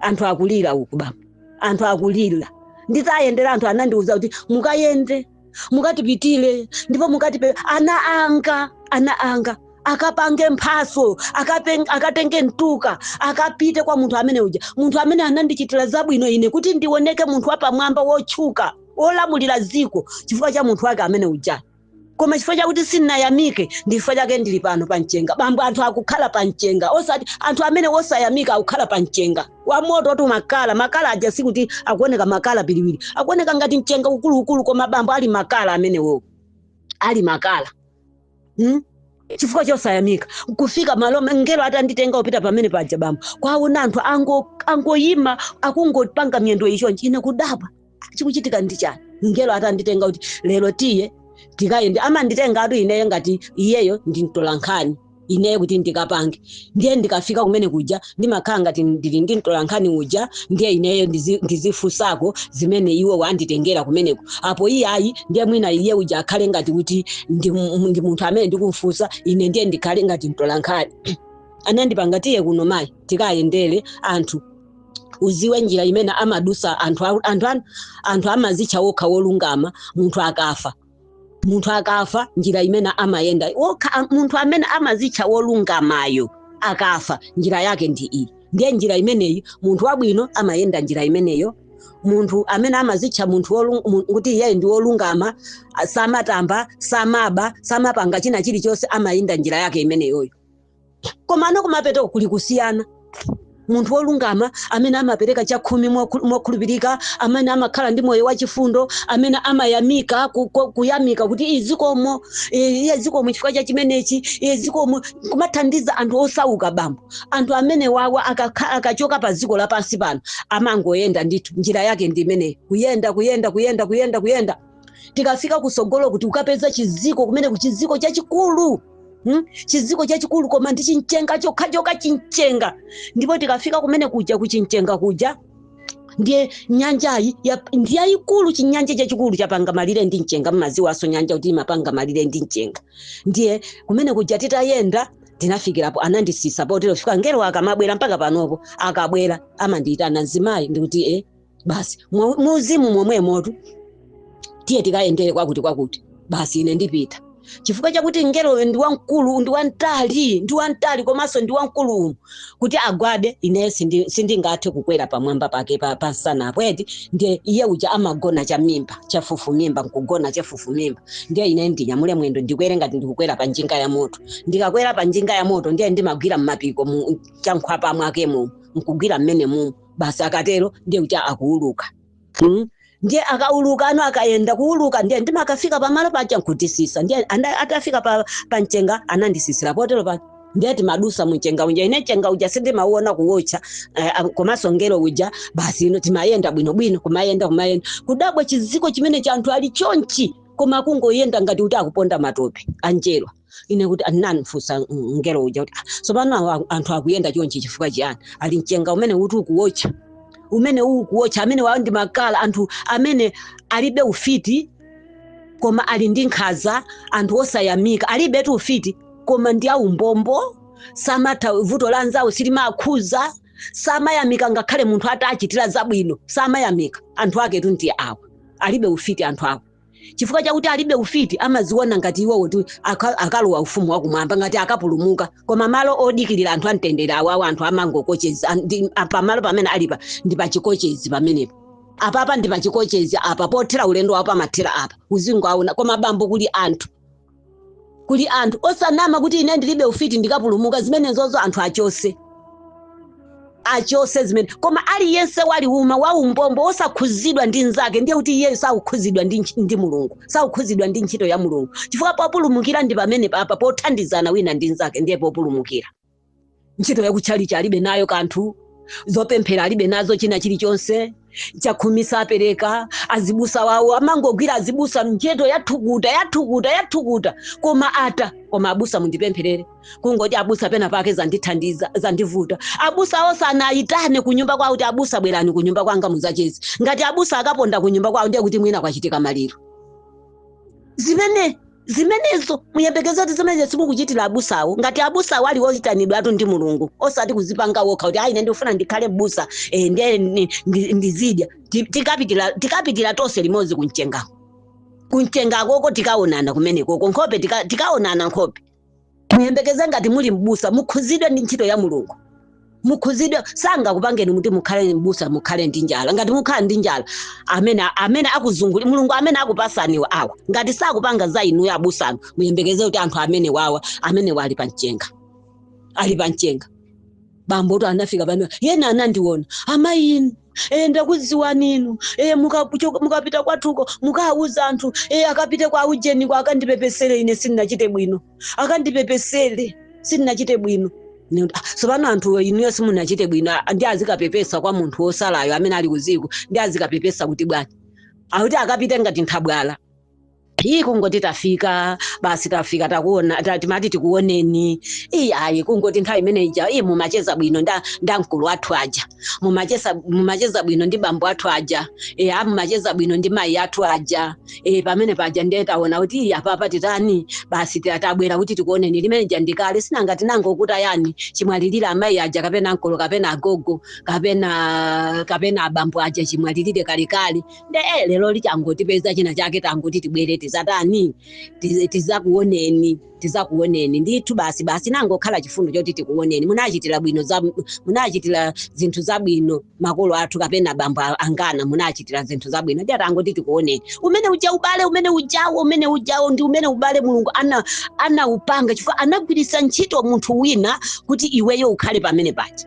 B: anthu akulira uku baba anthu akulira nditayendera anthu anandiuza kuti mukayende mukatipitire ndipo mukatifunsire ana anga ana anga akapange mphatso akapen- akatenge mtukwa akapite kwa munthu amene uja munthu amene anandichitira zabwino ine kuti ndioneke munthu wapamwamba wotchuka wolamulira dziko chifukwa cha munthu wake amene uja koma chifukwa chakuti sindinayamike ndi chifukwa chake ndili pano pa mchenga bambo anthu akukhala pa mchenga osati anthu amene osayamika akukhala pa mchenga wa moto oti makala makala aja sikuti akuoneka makala piliwiri akuoneka ngati mchenga ukuluukulu koma bambo ali makala amenewo ali makala hmm? chifukwa chosayamika kufika malo ngelo atanditenga kupita pamene paja bambo kuwaona anthu ango- angoyima akungopanga miyendo chonchi ine kudabwa chikuchitika ndi chani mngelo atanditenga kuti lero tiye tikayende amanditengatu ineyo ngati iyeyo ndi mtolankhani ineyo kuti ndikapange ndiye ndikafika kumene kuja ndimakhala ngati ndili ndi mtolankhani uja ndiye ineyo ndizi- ndizifunsako zimene iwo wanditengera kumeneko apo iye ayi ndiye mwina iye uja akhale ngati kuti ndi mu- ndi munthu amene ndikumfunsa ine ndiye ndikhale ngati mtolankhani anandipanga tiye kuno mayi tikayendere anthu uziwe njira imene amadusa anthu a- anthu an- anthu amazitcha wokha wolungama munthu akafa munthu akafa njira imene amayenda wokha am- munthu amene amazitcha wolungamayo akafa njira yake ndi iyi ndiye njira imeneyi munthu wabwino amayenda njira imeneyo munthu amene amazitcha munthu wolung- mu- kuti iyeyo ndi wolungama a- samatamba samaba samapanga china chilichonse amayenda njira yake imeneyoyo komano kumapeteko kuli kusiyana munthu wolungama amene amapereka chakhumi mokhu- mokhulupirika amene amakhala ndi moyo wachifundo amene amayamika ku- ku- kuyamika kuti iye zikomo eh, iye zikomo chifukwa cha chimenechi iye zikomo kumathandiza anthu osauka bambo anthu amene wawa akakha- akachoka pa ziko lapansi pano amangoyenda ndithu njira yake ndi imeneyi kuyenda kuyenda kuyenda kuyenda kuyenda tikafika kusogolo kuti ukapeza chiziko kumene kuchiziko chachikulu Hmm? chiziko chachikulu koma ndi chinchenga chokha chokha chinchenga ndipo tikafika kumene kuja kuchinchenga kuja ndiye nyanjayi ya- ndi yayikulu chinyanja chachikulu chapanga malire ndi mchenga mmaziwaso nyanja kuti imapanga malire ndi mchenga ndiye kumene kuja titayenda ndinafikirapo anandisisa potero fika ngelo akamabwera mpaka panopo akabwera amandiyitana mzimayi ndikuti e basi mwa- muuzimu momwemotu tiye tikayendere kwakuti kwakuti basi ine ndipita chifukwa chakuti mngeloyo ndi wamkulu ndi wamtali ndi wamtali komanso ndi wamkulu umu kuti agwade ine sindi- sindingathe kukwera pamwamba pake pa- pansanapo eti ndiye iye uja amagona chamimba chafufumimba nkugona chafufumimba ndiye ine ndinyamule mwendo ndikwere ngati ndikukwera pa njinga ya moto ndikakwera pa njinga ya moto ndiye ndimagwira mmapiko mu- chankhwapa mwake mumu nkugwira mmene mumu basi akatero ndiye uja akuuluka mm? ndiye akaulukano akayenda kuuluka ndiye ndimakafika pamalo paja nkutisisa ndiye anda- atafika pa, pa mchenga anandisisira potero pa ndiye timadusa mchenga uja ine mchenga uja sindimauona kuwotcha eh, ah, komanso ngelo uja basi ino timayenda bwinobwino kumayenda kumayenda kudabwa chiziko chimene cha anthu ali chonchi koma akungoyenda ngati kuti akuponda matope a njerwa ine kuti anandifunsa mngelo uja kuti tsopano anthu akuyenda chonchi chifukwa chiyani ali mchenga umene ukuwotcha umene ukuwotcha amene wawo ndi makala anthu amene alibe ufiti koma ali ndi nkhaza anthu osayamika alibetu ufiti koma ndi aumbombo samatha vuto la anzawo silimakhuza samayamika ngakhale munthu atachitira zabwino samayamika anthu aketu ndi awa alibe ufiti anthu awa chifukwa chakuti alibe ufiti amaziona ngati iwo kuti aka- akalowa ufumu wakumwamba ngati akapulumuka koma malo odikirira anthu amtendere awawo anthu amangokocheza pamalo pamene alipa ndi pachikochezi pamenepo apapa ndi pachikochezi apa pothera ulendo wawo pamathera apa uzingoaona koma bambo kuli anthu kuli anthu osanama kuti ine ndilibe ufiti ndikapulumuka zimenezozo anthu achose achose zimene koma aliyense waliuma waumbombo wosakhuzidwa ndi mnzake ndiye kuti iyeyo sakukhuzidwa ndi mulungu sakukhuzidwa ndi ntchito ya mulungu chifukwa populumukira ndi pamene papa pothandizana wina ndi mnzake ndiye populumukira ntchito yakutchalichi alibe nayo kanthu zopemphera alibe nazo china chilichonse chakhumi sapereka azibusa wawo amangogwira azibusa ntchito yathukuta yathukuta yathukuta koma ata koma abusa mundipempherere kungoti abusa pena pake zandithandiza zandivuta abusa osanawayitane kunyumba kwawo kuti abusa bwerani kunyumba kwanga muzacheze ngati abusa akaponda kunyumba kwawo ndiye kuti mwina kwachitika maliro zimene zimenezo muyembekeze kuti zimenezo simukuchitira abusawo ngati abusawo ali oyitanidwatu ndi mulungu osati kuzipanga wokha kuti a ine ndikufuna ndikhale mbusa eh, ndiye ndizidya tikapitira tonse limodzi kumchengako kumchengakoko tikaonana kumenekoko nkhope tikaonana nkhope muyembekeze ngati muli m'busa mukhuzidwe ndi ntchito ya mulungu mukhuzidwe sangakupangeni muti mukhale m'busa mukhale ndi njala ngati mukhala ndi njala amene amene akuzungulirani mulungu amene akupasaniwo awa ngati sakupanga za inuyo abusanu muyembekeze kuti anthu amene wawa amene ali pa mchenga ali pa mchenga bambotu anafika pa ena anandiona amayi inu e ndakudziwani inu e mukapita kwathuko mukawauza anthu e akapite kwa ujeniko akandipepesere ine sindinachite bwino akandipepesere sindinachite bwino Ine kuti, "Ah, tsopano anthu inuyo simunachite bwino ah, ndi azikapepesa kwa munthu wosalayo amene ali kuziko ndi azikapepesa kuti bwanji akuti akapite ngati nthabwala ayi kungoti tafika basi tafika takuona ta- timati tikuoneni ayi ayi kungoti nthawi imene ija ayi mumacheza bwino nda, nda mkulu athu aja mumacheza, mumacheza bwino ndi bambo athu aja e, a mumacheza bwino ndi mayi athu aja e, pamene paja ndiye taona kuti ayi apapa titani basi ta- tabwera kuti tikuoneni limene lija ndikale sinanga tinangokuta yani chimwalirire amayi aja kapena mkulu kapena agogo kapena kapena abambo aja chimwalirire kalekale nde eh, lero lichangotipeza china chake tangoti tibwere tizatani Tiz- tizakuoneni tizakuoneni ndithu basi basi nangokhala chifundo choti tikuoneni munachi- munachitira zinthu zabwino makolo athu kapena bambo angana munachitira zinthu zabwino ndi atangoti tikuoneni umene uja ubale umene ujawo umene ujawo ndi umene ubale mulungu anaupanga chifukwa anagwiritsa ntchito munthu wina kuti iweyo ukhale pamene paja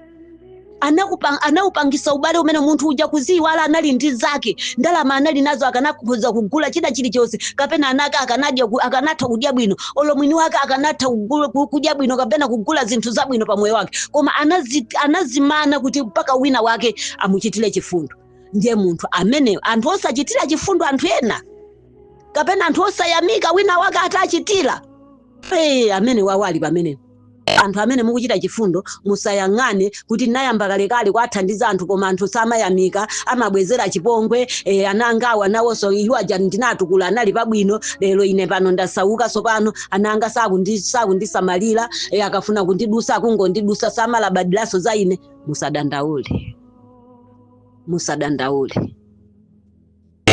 B: anakupa- anaupangisa ubale umene munthu uja kuziyiwala anali ndi zake ndalama anali nazo akanakhoza kugula china chilichonse kapena anaka akanadya ku- akanatha kudya bwino olo mwini wake akanatha kugula- ku- kudya bwino kapena kugula zinthu zabwino pa moyo wake koma anazi, anazimana kuti mpaka wina wake amuchitire chifundo ndiye munthu amene anthu osachitira chifundo anthu ena kapena anthu osayamika wina wake atachitira ee, amene wawo ali pamenepo anthu amene mukuchita chifundo musayang'ane kuti nayamba kalekale kuwathandiza anthu koma anthu samayamika amabwezera chipongwe e, ana angawa nawonso iwo aja ndinatukula anali pabwino lero ine pano ndasauka sopano ana anga sakundi- sakundisamalira e, akafuna kundidusa akungondidusa samalabadiranso za ine musadandaule musadandaule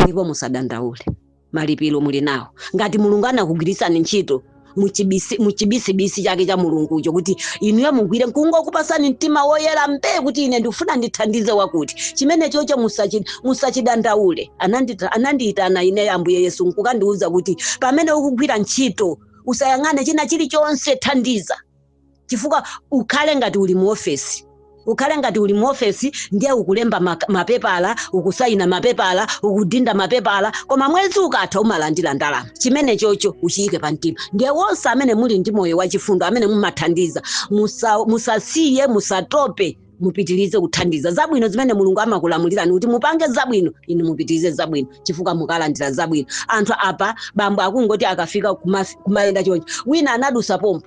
B: ndipo musadandaule malipiro muli nawo ngati mulungu anakugwiritsani ntchito muchibisi- muchibisibisi chake cha mulungucho kuti inuyo mugwire nkungokupasani mtima woyera mbee kuti ine ndikufuna ndithandize wakuti chimene chocho musachi- musachidandaule Anandita- anandiyitana ine ambuye yesu nkukandiwuza kuti pamene ukugwira ntchito usayang'ane china chilichonse thandiza chifukwa ukhale ngati uli mu ofesi ukhale ngati uli mu ofesi ndiye ukulemba mak- mapepala ukusayina mapepala ukudinda mapepala koma mwezi ukatha umalandira ndalama chimene chocho uchiyike pa mtima ndiye wonse amene muli ndi moyo wachifundo amene mumathandiza musa- musasiye musatope mupitirize kuthandiza zabwino zimene mulungu amakulamulirani kuti mupange zabwino inu mupitirize zabwino chifukwa mukalandira zabwino anthu apa bambo akungoti akafika kuma- kumayenda choncho wina anadusa pompo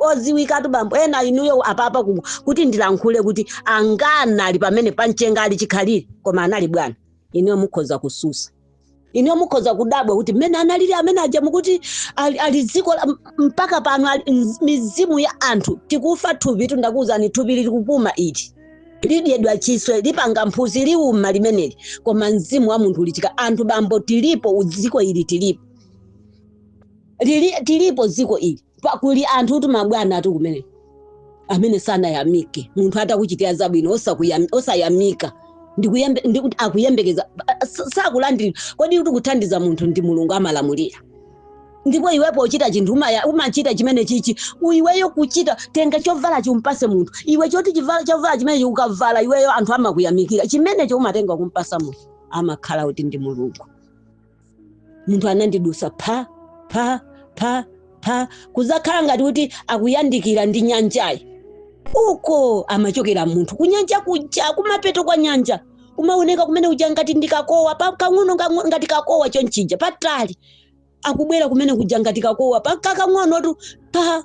B: odziwikatu bambo ena inuyo apapa ku- kuti ndilankhule kuti angana ali pamene pamchenga ali chikhalire koma anali bwana inuyo mukhoza kususa inuyo mukhoza kudabwa kuti mmene analili amene aja mukuti ali, ali dziko la- m- mpaka pano ali mz- mizimu ya anthu tikufa thupi tundakuwuzani thupi lili kupuma ili lidyedwa chiswe lipanga mphutsi liuma limeneli koma mzimu wa munthu ulichika anthu bambo tilipo mdziko ili tilipo tilipo dziko ili pa- kuli anthu kuti mabwana athu kumene amene sanayamike munthu atakuchitira zabwino osakuyam- osayamika ndikuyembe- ndikuti akuyembekeza a- sa- sakulandira kodi kuti kuthandiza munthu ndi mulungu amalamulira ndipo iwepo uchita chinthu umaya- umachita chimenechi iweyo kuchita tenga chovala umpatse munthu iwe choti chivala- chovala chimenechi ukavala iweyo anthu amakuyamikira chimenecho umatenga kumpatsa munthu amakhala kuti ndi mulungu munthu anandidutsa pha pha pha pha kudzakhala ngati kuti akuyandikira ndi nyanjayi uko amachokera munthu kunyanja kuja kumapeto kwa nyanja kumaoneka kumene kuja ngati ndi kakowa pha kang'ono kang'o- ngati kakowa chonchija patali akubwera kumene kuja ngati kakowa pha kakang'onotu pha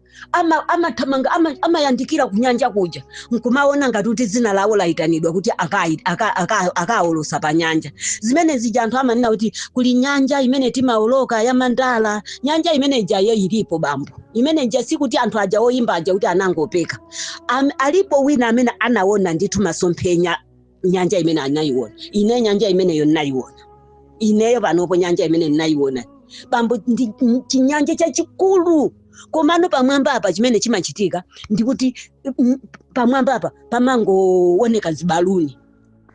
B: amathamanga ama amayandikira ama kunyanja kuja nkumaona ngati kuti dzina lawo layitanidwa kuti akawoloke aka, aka, aka pa nyanja zimene zija anthu amanena kuti kuli nyanja imene timaoloka ya mandala nyanja imene ijayo ilipo bambo imene ija sikuti anthu aja oyimba aja kuti anangopeka Am, alipo wina amene anaona ndithu masomphenya nyanja imene anayiona ine nyanja imeneyo ndinayiona ineyo panopo nyanja imene ndinayiona bambo ndi ndi chinyanja chachikulu komano pamwamba apa chimene chimachitika ndikuti mm, pamwamba apa pamangooneka zibaluni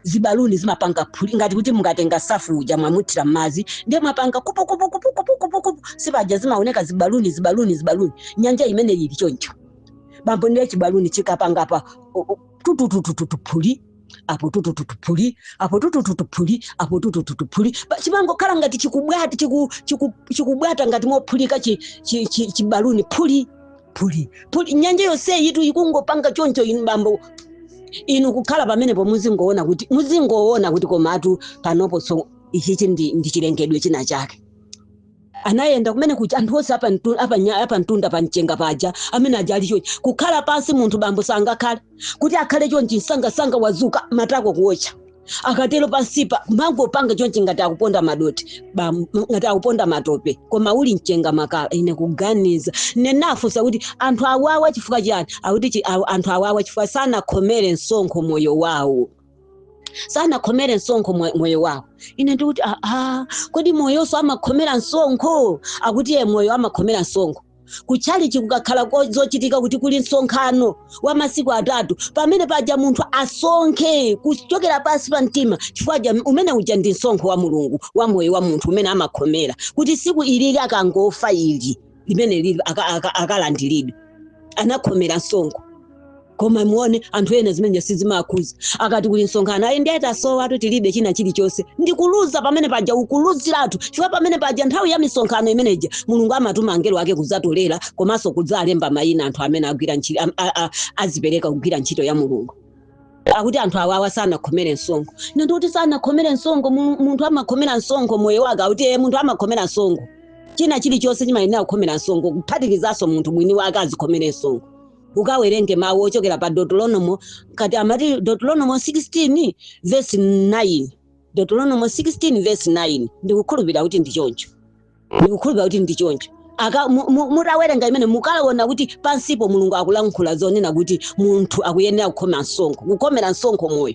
B: zibaluni zimapanga phuli ngati kuti mungatenga safu uja mwamuthira m'madzi ndiye mwapanga kupukupukupukupukupuku si paja zimaoneka zibaluni zibaluni zibaluni nyanja imene ili choncho bambo ndiye chibaluni chikapanga pa tututututuphuli apo tutututuphuli apo tutututuphuli apo tutututuphuli Pa- chimangokhala ngati chikubwata chiku- chiku- chikubwata ngati mophulika chi- chi- chi- chibaluni phuli phuli phuli nyanja yonseyitu ikungopanga choncho inu bambo inu kukhala pamenepo muzingoona kuti muzingoona kuti komatu panopo so ichichi ndi, ndi chilengedwe china chake anayenda kumene kuja anthu onse apantu- apanya- apamtunda pa mchenga paja amene aja ali chonchi kukhala pansi munthu bambo sangakhale kuti akhale chonchi msangasanga wadzuka matako kuotcha akatero pansipa amangopanga chonchi ngati akuponda madothi bam- ngati akuponda matope koma uli mchenga makala ine kuganiza ndinafunsa kuti anthu awawa chifukwa chiyani akuti chi- aw- anthu awawa chifukwa sanakhomere msonkho moyo wawo sanakhomere msonkho mwe- moyo wawo ine ndikuti aa kodi moyonso amakhomera msonkho akuti ye moyo amakhomera msonkho kutchalitchi kukakhala ko- zochitika kuti kuli msonkhano wa masiku atatu pamene paja munthu asonkhe kuchokera pansi pa mtima chifukwa ja umene uja ndi msonkho wa mulungu wa moyo wa munthu umene amakhomera kuti tsiku lililonse akangofa ili limene lili aka- aka- akalandiridwe anakhomera msonkho koma muone anthu ena zimenezi sizimawakhuza akati kuli msonkhano ayi ndiye tasowatu tilibe china chilichonse ndikuluza pamene paja ukuluziratu chifukwa pamene paja nthawi ya misonkhano imeneja mulungu amatuma angelo ake kudzatolera komanso kudzalemba mayina anthu amene agwira ntchito am- a- a- azipereka kugwira ntchito ya mulungu akuti anthu awawa sanakhomere msonkho nati kuti sanakhomere msonkho mu- munthu amakhomera msonkho moyo wake akuti ee munthu amakhomera msonkho china chilichonse chimayenera kukhomera msonkho kuphatikizanso munthu mwini wake azikhomere msonkho mukawerenge mawu ochokera pa deuteronomo kati amati deuteronomo 16 verse 9 deuteronomo 16 verse 9 ndikukhulupirira kuti ndi choncho ndikukhulupira kuti ndi choncho Aka- mu- mu- mutawerenga imene mukaona kuti pansipo mulungu akulankhula zonena kuti munthu akuyenera kukhomera msonkho kukhomera msonkho moyo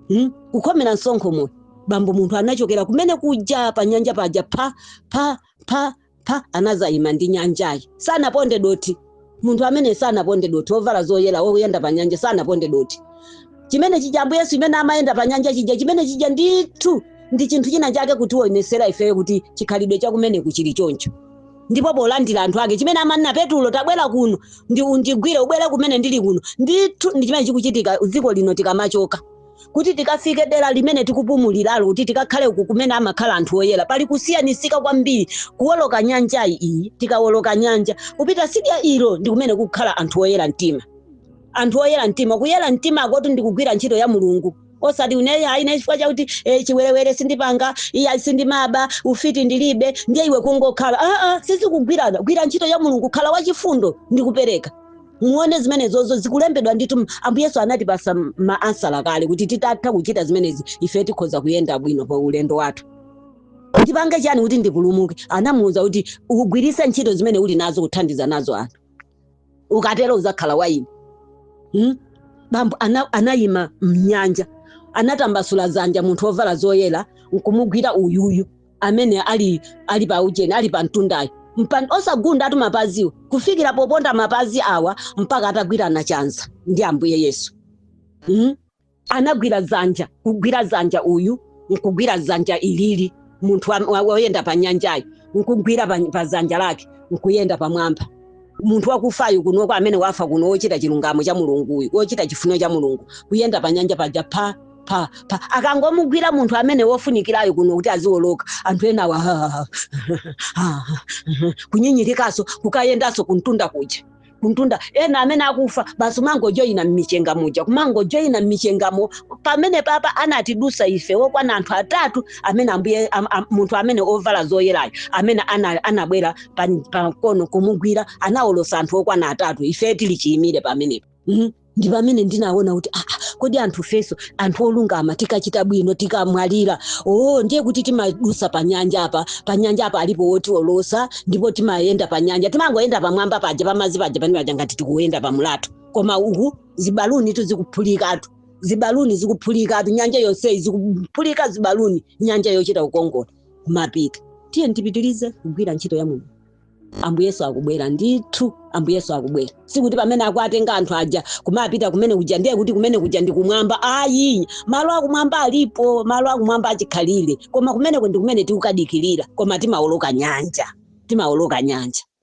B: hmm? kukhomera msonkho moyo bambo munthu anachokera kumene kuja pa nyanja paja pa pa pa pa anazayima mnyanjayi sanaponde dothi munthu amene sanaponde dothi wovala zoyera woyenda pa nyanja sanaponde dothi chimene chija ambuye yesu mmene amayenda pa nyanja chija chimene chija ndithu ndi chinthu china chake kutionesera ifeyo kuti chikhalidwe chakumeneku chili choncho ndipo polandira anthu ake chimene amanena petulo tabwera kuno ndi undigwire ubwere kumene ndili kuno ndithu ndi chimene chikuchitika dziko lino tikamachoka kuti tikafike dera limene tikupumuliralo kuti tikakhale uku kumene amakhala anthu oyera pali kusiyanisika kwambiri kuwoloka nyanja iyi tikawoloka nyanja kupita sidya ilo ndi kumene kukhala anthu oyera mtima anthu oyera mtima kuyera mtima kwakotu ndi kugwira ntchito ya mulungu osati uneyi ayi ine chifukwa chakuti eh, chiwerewere sindipanga iyayi sindimaba ufiti ndilibe ndiye iwe kungokhala aa sizikugwirana gwira ntchito ya mulungu khala wachifundo ndi kupereka muone zimenezozo zikulembedwa ndithu ambuye yesu anatipasa maansala kale kuti titatha kuchita zimenezi ife tikhoza kuyenda bwino pa ulendo wathu ndipange chani kuti ndipulumuke anamuwuza kuti ugwiritse ntchito zimene uli nazo kuthandiza nazo anthu ukatero uzakhala wa ine hmm? bambo ana, anayima mnyanja anatambasula zanja munthu wovala zoyera nkumugwira uyuyu amene ali ali pa ujeni ali pa mtundayo Mpan, osagundatu mapaziwo kufikira poponda mapazi awa mpaka atagwirana chanza ndi ambuye yesu mm? anagwira dzanja kugwira dzanja uyu nkugwira dzanja ilili munthu wa- wa- woyenda pa nyanjayo nkugwira pa pa dzanja lake nkuyenda pamwamba munthu wakufayo kunoko amene wafa kuno wochita chilungamo cha mulunguyu wochita chifuniro cha mulungu kuyenda pa nyanja paja pha pa pa akangomugwira munthu amene wofunikirayo kuno kuti aziwoloka anthu enawa ha, ha, ha, ha, ha, kunyinyirikaso kukayendaso kuntunda kuja kuntunda ena amene akufa basi kumangojoyina mmichenga muja kumangojoyina mmichengamo pamene papa anatidusa ife okwana anthu atatu amene ambuye am, am, munthu amene ovala zoyerayo amene ana- anabwera pa- pakono kumugwira anawolosa anthu okwana atatu ife tili chiyimire pamenepo mm? ndi pamene ndinaona kuti aa kodi anthu ifeso anthu olungama tikachita bwino tikamwalira oo ndiye kuti timadusa pa nyanja apa pa nyanja apa alipo wotiwolosa ndipo timayenda pa nyanja timangoyenda pamwamba paja pamazi paja pane paja ngati tikuyenda pa mlatho koma uku zibaluni tu zikuphulikatu zibaluni zikuphulikatu nyanja yonseyi zikuphulika zibaluni nyanja yochita kukongola kumapita tiye tipitirize kugwira ntchito ya mulungu ambuye yesu akubwera ndithu ambuye yesu akubwera sikuti pamene akuatenga anthu aja kumapita kumene kuja ndiye kuti kumene kuja ndi kumwamba ayi malo akumwamba alipo malo akumwamba achikhalire koma kumeneko ndi kumene tikukadikirira koma timaoloka nyanja timaoloka nyanja